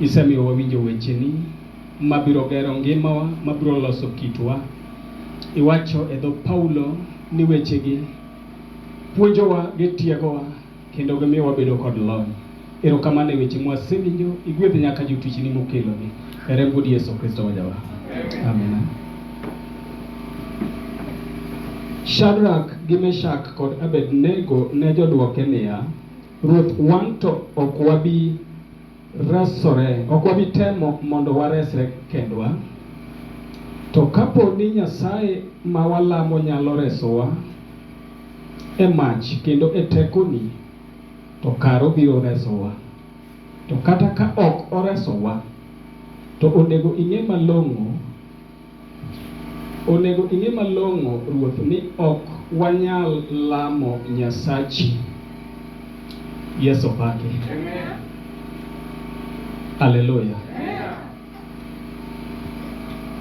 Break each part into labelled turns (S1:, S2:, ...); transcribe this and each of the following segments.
S1: Isemiyo wawinjo wecheni ma biro gero ngimawa, ma biro loso kitwa. Iwacho e dho Paulo ni wechegi puonjowa, gitiegowa, kendo gimiyo wabedo kod lony. Erokamano e weche mwasewinjo, igwedh nyaka jotichni mokelogi. E remb Wuod Yesu Kristo wajawa. Amina. Shadrak gi Meshak kod Abednego ne jodwoke niya, Ruoth, wan to ok wabi resore, ok wabi temo mondo waresre kendwa. To kapo ni Nyasaye ma walamo nyalo resowa e mach kendo e tekoni, to kare obiro resowa. To kata ka ok oresowa, to onego ing'e malong'o Onego ing'e malong'o ruoth ni ok wanyal lamo Nyasachi Yeso pake. Haleluya.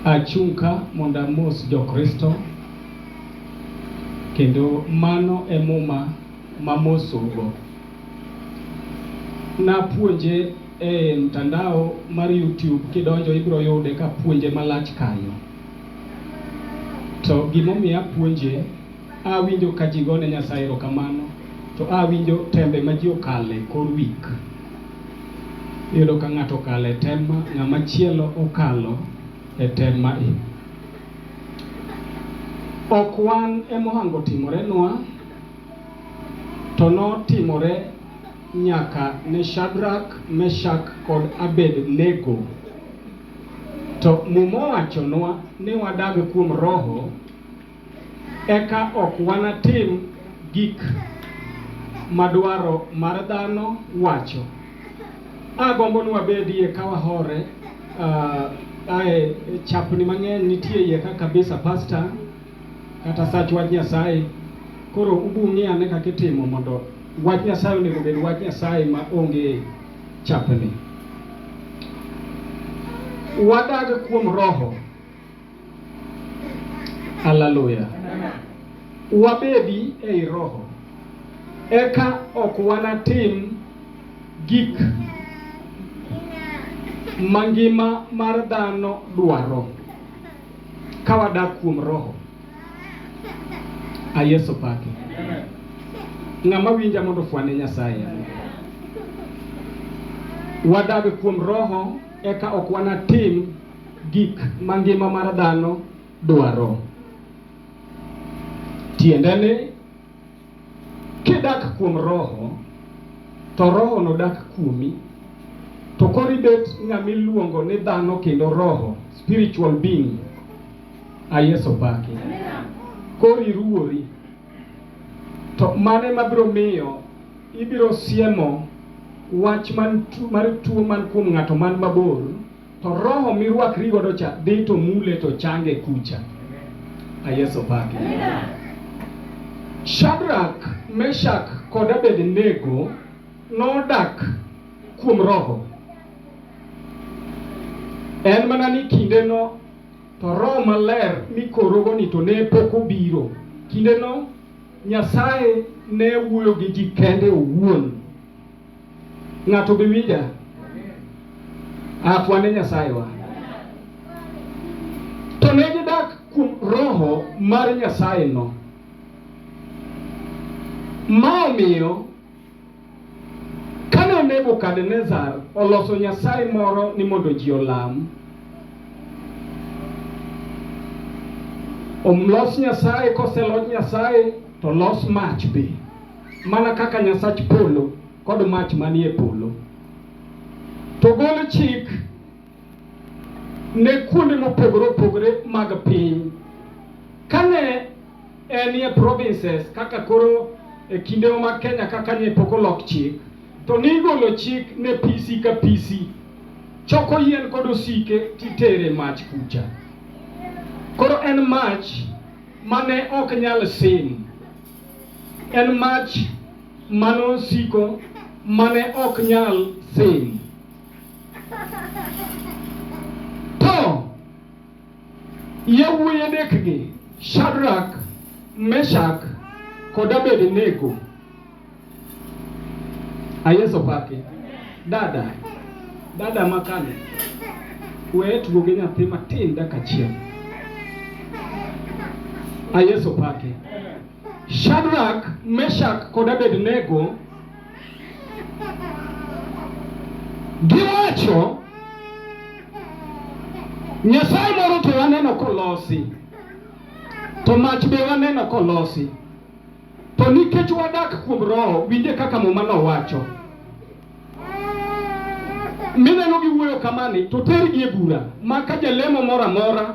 S1: Achung' ka mondo amos jo Kristo kendo mano e muma mamosogo. Napuonje e mtandao mar YouTube kidonjo ibiro yude kapuonje malach kanyo. To gimomiyo apuonje, awinjo ka ji gone Nyasaye erokamano to awinjo tembe ma ji okale kor wik. Iyudo ka ng'ato okale tem ma, ng'ama chielo okalo e tem ma i. Ok wan emohango timorenwa. To notimore nyaka ne Shadrak, Meshak kod Abednego. To Muma owachonwa ni wadag kuom Roho, eka ok wanatim gik ma dwaro mar dhano wacho. Agombo ni wabedie ka wahore. Uh, ae chapni mang'eny nitie iye ka kabisa pasta kata sach wach Nyasaye. Koro ubung'i ane kaka itimo mondo wach Nyasaye onego obed wach Nyasaye ma onge chapni. Wadag kuom Roho. Haleluya. Wabedi ei Roho. Eka ok wanatim gik mangima mar dhano dwaro. Ka wadak kuom Roho, a Yesu paki. Ng'ama winja mondo fwane Nyasaye. Wadag kuom Roho eka ok wanatim gik ma ngima mar dhano dwaro. Tiende ni Kidak kuom Roho, to Roho nodak kuomi. To koro ibet ng'ama iluongo ni dhano kendo roho, spiritual being. A Yesu opaki. Koro iruwori. To mane mabiro miyo ibiro siemo wach man tu, mar tuo man kuom ng'ato man mabor to roho mirwakri godo cha dhi to mule to change kucha. Ayeso pake. Shadrach, Meshach kod Abednego nodak kuom roho. En mana ni kindeno to roho maler mikorogo ni to ne pok obiro. Kindeno Nyasaye ne wuoyo gi ji kende owuon Ng'ato be winja? Afwa ne Nyasaye wa. To ne gidak kuom roho mar Nyasaye no. Ma omiyo kane Nebukadnezar oloso nyasaye moro ni mondo ji olam, omlos nyasaye koselos nyasaye to los mach be. mana kaka Nyasach polo kod mach manie polo. To gol chik ne kuonde mopogore opogore mag piny. Kane en e provinces kaka koro e kinde mag Kenya kaka ne pok olok chik, to nigolo chik ne PC ka PC choko yien kod osike titere mach kucha. Koro en mach mane ok nyal sim. En mach manosiko mane ok nyal sin. To yawuoyi adekgi, Shadrak, Meshak kod Abednego Ayeso paki. Dada. Dada makane. We tugo gi nyathi matin dakika achiel. Ayeso paki. Shadrach, Meshach kod Abednego giwacho Nyasaye moro to waneno kolosi to mach be waneno kolosi To nikech wadak kuom Roho, winje kaka Muma nowacho. Mineno gi wuoyo kamani, to tergi e bura, ma ka jalemo moro amora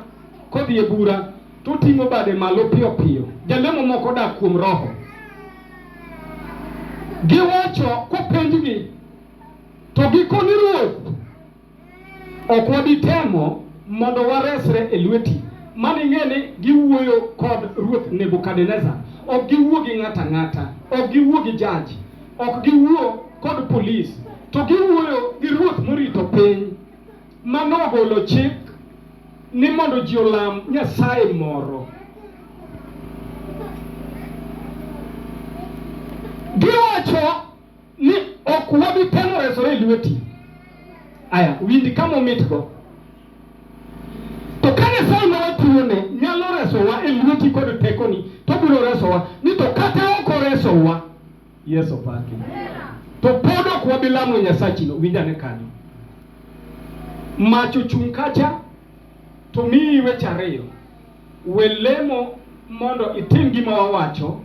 S1: kodhi e bura, to ting'o bade malo piyo piyo. Jalemo moko dak kuom Roho. Giwacho kopenjgi, to gikoni Ruoth Ok wabi temo mondo waresre e lweti. Mano ing'e ni giwuoyo kod ruoth Nebukadnezar. Ok giwuo gi ng'ato ang'ata, ok giwuo gi jaji, ok giwuo kod polis, to giwuoyo gi ruoth morito piny ma nogolo chik ni mondo ji olam nyasaye moro. Giwacho ni ok wabi temo resore e lweti. Aya, winj kama omitgo. To ka Nyasaye ma watiyone nyalo resowa e lweti kod tekoni, to obiro resowa. Ni to kata ok oresowa, Yesu paki. To pod ok wabi lamo Nyasachino, winj ane kanyo. Mach ochung' kacha, to miyi weche ariyo. We lemo mondo itim gima wawacho,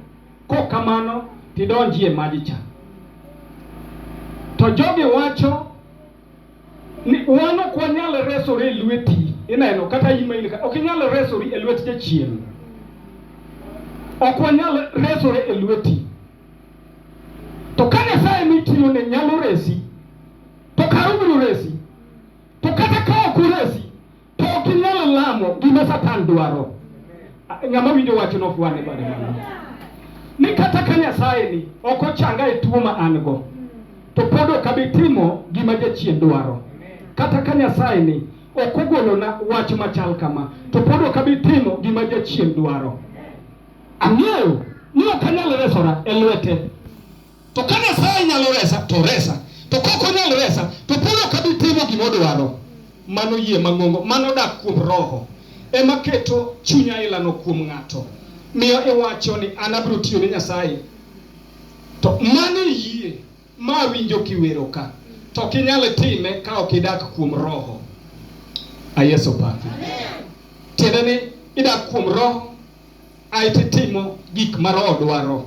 S1: Kok kamano tidonji e maji cha. To jogi wacho ni wan ok wanyal resore e lweti, ineno kata in ma in ka, ok inyal resori e lwet jachien. Ok wanyal resore e lweti. To ka Nyasaye mitiyo ne nyalo resi, to kare obiro resi. To kata ka ok oresi, to ok inyalo lamo gima Satan dwaro. Ng'ama winjo wach no fwane bade mano. Ni kata ka Nyasaye ni ok ochanga e tuo ma an go, to pod ok abi timo gima jachien dwaro. Kata ka Nyasaye ni ok ogolona wach machal kama, to pod ok abi timo gima jachien dwaro. Ang'eyo ni ok anyal resora e lwete. To ka Nyasaye nyalo resa, to resa. To kok onyal resa, to Paulo ok abi timo gima odwaro. Mano yie mang'ongo, mano dak kuom Roho. Ema keto chunya ilano kuom ng'ato. Miyo iwacho ni an abiro tiyo ne Nyasaye. To mano e yie ma awinjo kiwero ka. To ok inyal time ka ok idak kuom Roho. A Yesu paki. Tiende ni idak kuom Roho, aeto itimo gik ma Roho dwaro.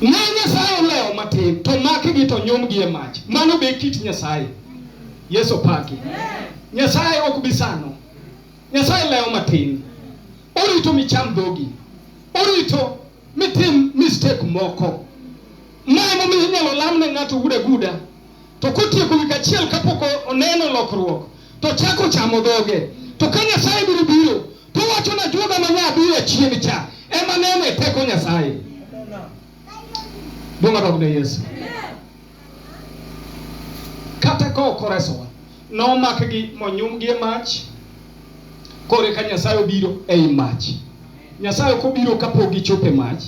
S1: Ne Nyasaye olewo matin to makigi to nyumgi e mach. Mano be kit Nyasaye. Yesu paki. Nyasaye ok bi sano. Nyasaye lewo matin. Orito micham dhogi. Orito mitim mistake moko. Ma emomiyo inyalo lam ne ng'ato guda guda to kotieko wik achiel kapok oneno lokruok to chako chamo dhoge to ka Nyasaye biro biro To wacho na Juda ma nya biro chien cha ema neno e teko Nyasaye. Duong' odog ne Yesu. Kata ka ok oresowa, nomakgi monyumgi e mach, kore ka Nyasaye obiro ei mach. Nyasaye ok obiro kapok gichopo e mach,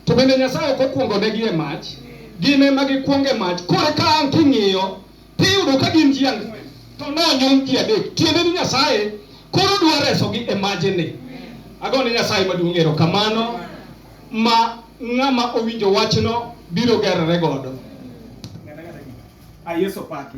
S1: to bende Nyasaye ok okwongonegi e mach, gin ema gikwongo e mach. Kore ka ang' king'iyo tiyudo ka gin ji ang'wen to ne onyuom ji adek tiende ni nyasaye koro dwa resogi e majene agone nyasaye maduong' erokamano ma ng'ama owinjo wachno biro gerore godo a Yesu paki.